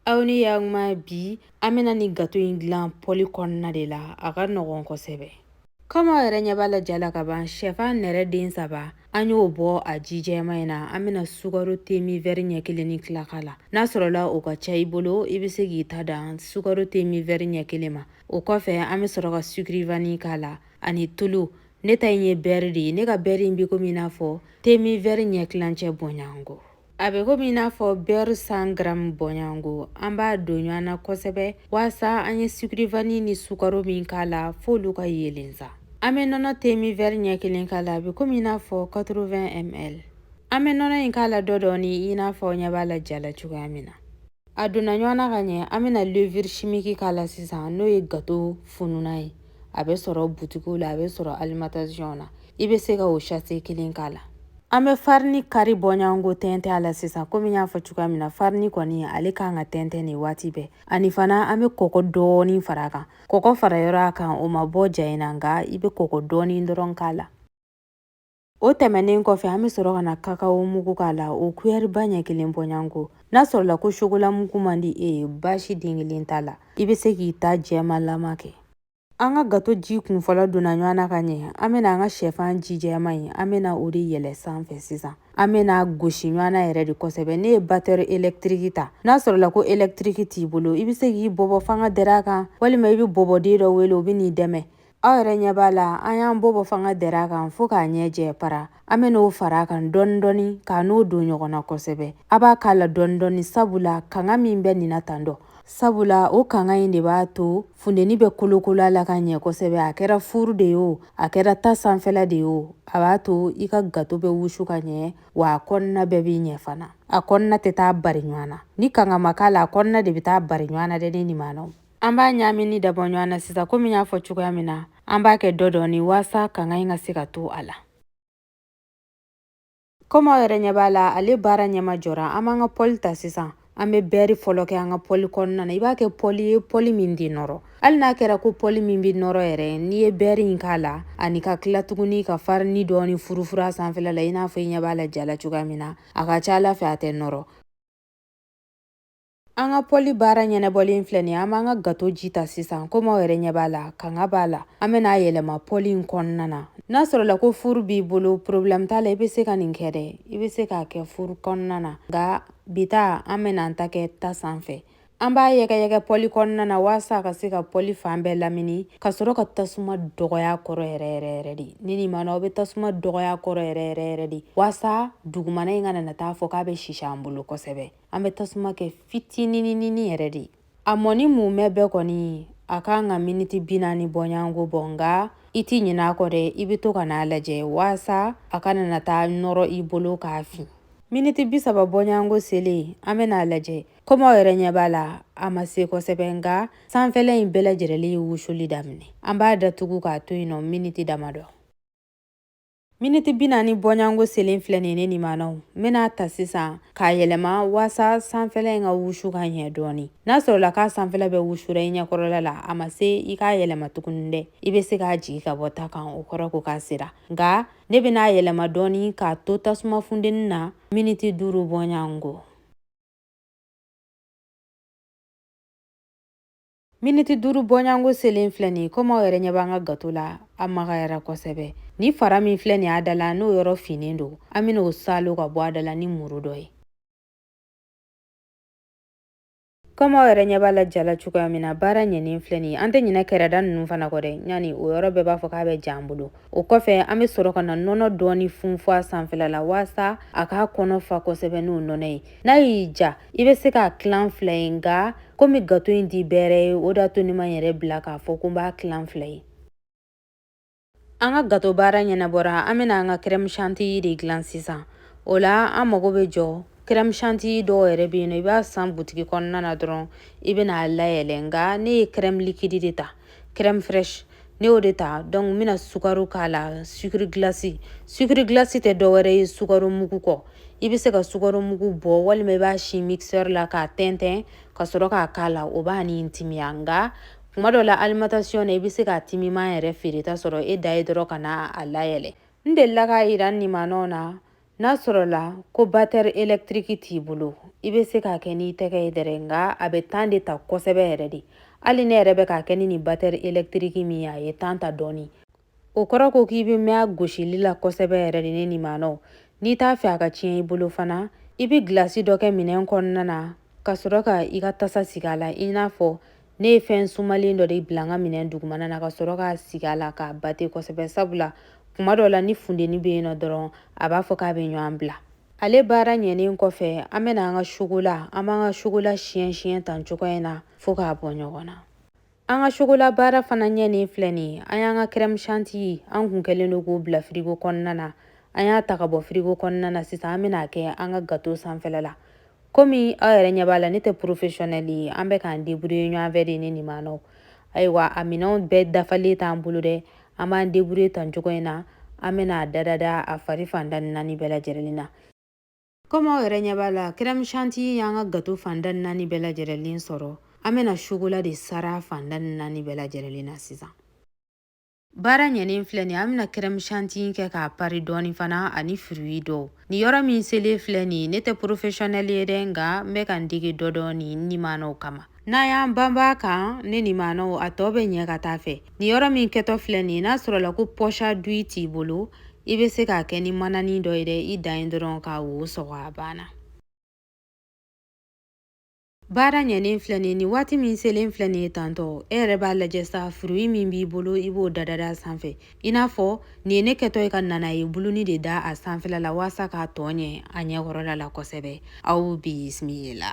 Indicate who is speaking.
Speaker 1: aw ni yakuma bi an bɛna nin gato in dilan pɔli kɔnɔna de la a ka nɔgɔn kosɛbɛ kɔmi aw yɛrɛ ɲɛ b'a la ja la ka ban shɛfan nɛrɛ den saba an y'o bɔ a ji jɛman in na an bɛna sukaro temi vɛri ɲɛ kelen ni tila k'a la n'a sɔrɔla o ka ca i bolo i bɛ se k'i ta dan sukaro temi vɛri ɲɛ kelen ma o kɔfɛ an bɛ sɔrɔ ka sukirivani k'a la ani tulu ne ta in ye bɛri de ye ne ka bɛri in bɛ komi i n'a fɔ temi vɛri ɲɛ tilancɛ bɔɲɔgɔnko a bɛ komi i n'a fɔ bɛri san garamu bɔɲɔgɔnko an b'a don ɲɔgɔn na kosɛbɛ waasa an ye sukirivani ni sukaro min k'a la f'olu ka yeelen sa an bɛ nɔnɔ temi vɛri ɲɛ kelen k'a la a bɛ komi i n'a fɔ 80 ml an bɛ nɔnɔ in k'a la dɔ dɔɔni i n'a fɔ aw ɲɛ b'a la ja la cogoya min na A donna ɲɔgɔn na ka ɲɛ an bɛna levure chimique k'a la sisan n'o ye gato fununan ye a bɛ sɔrɔ butikiw la a bɛ sɔrɔ alimentation na i bɛ se ka o sachet kelen k'a la an bɛ farini kari bɔɲɔgɔnko tɛntɛn a la sisan komi n y'a fɔ cogoya min na farini kɔni ale kan ka tɛntɛn nin waati bɛɛ ani fana an bɛ kɔkɔ dɔɔni fara a kan kɔkɔ fara yɔrɔ a kan o ma bɔ ja in na nka i bɛ kɔkɔ dɔɔni dɔrɔn k'a la O tɛmɛnen kɔfɛ an bɛ sɔrɔ ka na kakao mugu k'a la o kuyɛriba ɲɛ kelen bɔɲɔgɔnko n'a sɔrɔla ko sokolamugu man di e ye baasi den kelen t'a la i bɛ se k'i ta jɛmanlama kɛ an ka gato ji kun fɔlɔ donna ɲɔgɔn na ka ɲɛ an bɛna an ka sɛfan ji jɛman in an bɛna o de yɛlɛ sanfɛ sisan an bɛn'a gosi ɲɔgɔn na yɛrɛ de kosɛbɛ ne ye batɛri elektiriki ta n'a sɔrɔla ko elektiriki t'i bolo i bɛ se k'i bɔbɔ fanga dɛrɛ a kan walima i bɛ bɔbɔden dɔ wele o bɛ n'i dɛmɛ aw yɛrɛ ɲɛ b'a la an y'an bɔbɔ fanga dɛrɛ a kan fo k'a ɲɛ jɛ para an bɛn'o fara a kan dɔɔni dɔɔni ka n'o don ɲɔgɔn na kosɛbɛ a b'a k'a la dɔɔni dɔɔni sabula kanga min bɛ nin na tan dɔ sabula o kanga in de b'a to funteni bɛ kolokolo a la ka ɲɛ kosɛbɛ a kɛra furu de ye o a kɛra ta sanfɛla de ye o a b'a to i ka gato bɛ wusu ka ɲɛ wa a kɔnɔna bɛɛ bɛ ɲɛ fana a kɔnɔna tɛ taa bari ɲɔgɔn na ni kanga ma k'a la a kɔnɔna de bɛ taa bari ɲɔgɔn na dɛ ne nimanaw An b'a ɲaamini dabɔ ɲɔgɔn na sisan komi n y'a fɔ cogoya min na an b'a kɛ dɔ dɔɔni waasa kanga in ka se ka to a la komi aw yɛrɛ ɲɛ b'a la ale baara ɲɛma jɔra an b'an ka pɔli ta sisan an bɛ bɛri fɔlɔ kɛ an ka pɔli kɔnɔna na i b'a kɛ pɔli ye pɔli min tɛ nɔrɔ hali n'a kɛra ko pɔli min bɛ nɔrɔ yɛrɛ n'i ye bɛri in k'a la ani ka tila tuguni ka farini dɔɔni furufuru a sanfɛla la i n'a fɔ i ɲɛ b'a la ja la cogoya min na a ka ca a la fɛ a tɛ nɔrɔ An ka pɔli baara ɲɛnabɔlen filɛ nin ye an b'an ka gato ji ta sisan komi aw yɛrɛ ɲɛ b'a la kanga b'a la an bɛna a yɛlɛma pɔli in kɔnɔna na n'a sɔrɔla ko furu b'i bolo porobilɛmu t'a la i bɛ se ka nin kɛ dɛ i bɛ se k'a kɛ furu kɔnɔna na nka bi ta an bɛna an ta kɛ ta sanfɛ an b'a yɛgɛyɛgɛ pɔli kɔnɔna na walasa a ka se ka pɔli fan bɛɛ lamini ka sɔrɔ ka tasuma dɔgɔya kɔrɔ yɛrɛ yɛrɛ yɛrɛ de ne nimanaw aw bɛ tasuma dɔgɔya kɔrɔ yɛrɛ yɛrɛ yɛrɛ de walasa dugumana in kana na taa fɔ k'a bɛ sisi an bolo kosɛbɛ an bɛ tasuma kɛ fitinininin yɛrɛ de a mɔni mumɛ bɛɛ kɔni a kan ka miniti bi naani bɔɲango bɔ nka i tɛ ɲinɛ a kɔ dɛ i bɛ to ka n'a lajɛ waasa a kana na taa nɔrɔ i bolo k'a fin miniti bi saba bɔɲango selen an bɛna a lajɛ komi aw yɛrɛ ɲɛ b'a la a ma se kosɛbɛ nka sanfɛla in bɛɛ lajɛlen ye wusuli daminɛ an b'a datugu k'a to yen nɔ miniti damadɔ Miniti bi naani bɔɲango selen filɛ nin ne nimanaw n bɛna a ta sisan k'a yɛlɛma waasa sanfɛla in ka wusu ka ɲɛ dɔɔni n'a sɔrɔla k'a sanfɛla bɛɛ wusura i ɲɛkɔrɔla la a ma se i k'a yɛlɛma tuguni dɛ i bɛ se k'a jigi ka bɔ ta kan o kɔrɔ ko k'a sera nka ne bɛna a yɛlɛma dɔɔni k'a to tasuma fundeni na miniti duuru bɔɲango miniti duuru bɔɲango selen filɛ nin ye komi aw yɛrɛ ɲɛ b'an ka gato la a magayara kosɛbɛ ni fara min filɛ nin y'a da la n'o yɔrɔ finnen don an bɛna o salo ka bɔ a da la ni muru dɔ ye komi aw yɛrɛ ɲɛ b'a la ja la cogoya min na baara ɲɛnen filɛ nin ye an tɛ ɲinɛ kɛrɛda ninnu fana kɔ dɛ ɲani o yɔrɔ bɛɛ b'a fɔ k'a bɛ ja an bolo o kɔfɛ an bɛ sɔrɔ ka na nɔnɔ dɔɔni funfun a sanfɛla la waasa a k'a kɔnɔ fa kosɛbɛ n'o nɔnɔ ye n'a y'i diya i bɛ se k'a tilan fila ye nka komi gato in tɛ bɛrɛ ye o d'a to ne ma yɛrɛ bila k'a fɔ ko n b'a tilan fila ye an ka gato baara ɲɛnabɔra an bɛna an ka crème chantilly de dilan sisan o la an mago bɛ jɔ crème chantilly dɔw yɛrɛ bɛ yen nɔ i b'a san butigi kɔnɔna na dɔrɔn i bɛna a layɛlɛ nka ne ye crème liquide de ta crème fraîche ne y'o de ta donc n bɛna sukaro k'a la sucre glace sucre glace tɛ dɔwɛrɛ ye sukaro mugu kɔ i bɛ se ka sukaro mugu bɔ walima i b'a si mixeur la k'a tɛntɛn ka sɔrɔ k'a k'a la o b'a ni timiya nka kuma dɔ la alimentation na i bɛ se k'a timiman yɛrɛ feereta sɔrɔ e ta ye dɔrɔn ka na a layɛlɛ n delila k'a yira n nimanaw na n'a sɔrɔla ko batɛri elektiriki t'i bolo i bɛ se k'a kɛ n'i tɛgɛ ye dɛrɛ nka a bɛ temps de ta kosɛbɛ yɛrɛ de hali ne yɛrɛ bɛ k'a kɛ ni nin batɛri elektiriki min ye a ye temps ta dɔɔni o kɔrɔ ko k'i bɛ mɛn a gosili la kosɛbɛ yɛrɛ de ne nimanaw n'i t'a fɛ a ka tiɲɛ i bolo fana i bɛ gilasi dɔ kɛ minɛn kɔnɔna na ka sɔrɔ ka i ka tasa sigi a la i n'a fɔ ne ye fɛn sumalen dɔ de bila n ka minɛn dugumana na ka sɔrɔ k'a sigi a la k'a bate kosɛbɛ sabula kuma dɔ la ni fundeni bɛ yen nɔ dɔrɔn a b'a fɔ k'a bɛ ɲɔgɔn bila ale baara ɲɛnen kɔfɛ an bɛna an ka sokola an b'an ka sokola siyɛn siyɛn tan cogoya in na fo k'a bɔ ɲɔgɔn na an ka sokola baara fana ɲɛnen filɛ nin ye an y'an ka crème chantilly an kun kɛlen don k'o bila firigo kɔnɔna na an y'a ta ka bɔ firigo kɔnɔna na sisan an bɛna a kɛ an ka gato sanfɛla la komi aw yɛrɛ ɲɛ b'a la ne tɛ professionnel ye an bɛ k'an débrouiller ɲɔgɔn fɛ de ne nimanaw ayiwa a minɛnw bɛɛ dafalen t'an bolo dɛ an b'an débrouiller tan cogo in na an bɛna a dadada a fari fan da naani bɛɛ lajɛrɛlen na komi aw yɛrɛ ɲɛ b'a la crème chantilly y'an ka gâteau fan da naani bɛɛ lajɛrɛlen sɔrɔ an bɛna chocolat de sara fan da naani bɛɛ lajɛrɛlen na sisan Baara ɲɛnen filɛ nin an bɛna crème chantilly kɛ k'a pari dɔɔni fana ani fruit dɔw ni yɔrɔ min selen filɛ nin ne tɛ professionnel ye dɛ nka n bɛ ka n dege dɔ dɔɔni n nimanaw kama n'an y'an banba a kan ne nimanaw a tɔ bɛ ɲɛ ka taa fɛ ni yɔrɔ min kɛtɔ filɛ nin n'a sɔrɔla ko poche à douille t'i bolo i bɛ se k'a kɛ ni manani dɔ ye dɛ i dan ye dɔrɔn ka wo sɔgɔ a banna baara ɲɛnen filɛ nin ni waati min selen filɛ nin ye tantɔ e yɛrɛ b'a lajɛ sa fruit min b'i bolo i b'o dadada a sanfɛ i n'a fɔ nin ye ne kɛtɔ ye ka nanaye buluni de da a sanfɛla la waasa k'a tɔ ɲɛ a ɲɛkɔrɔla la kosɛbɛ aw bisimila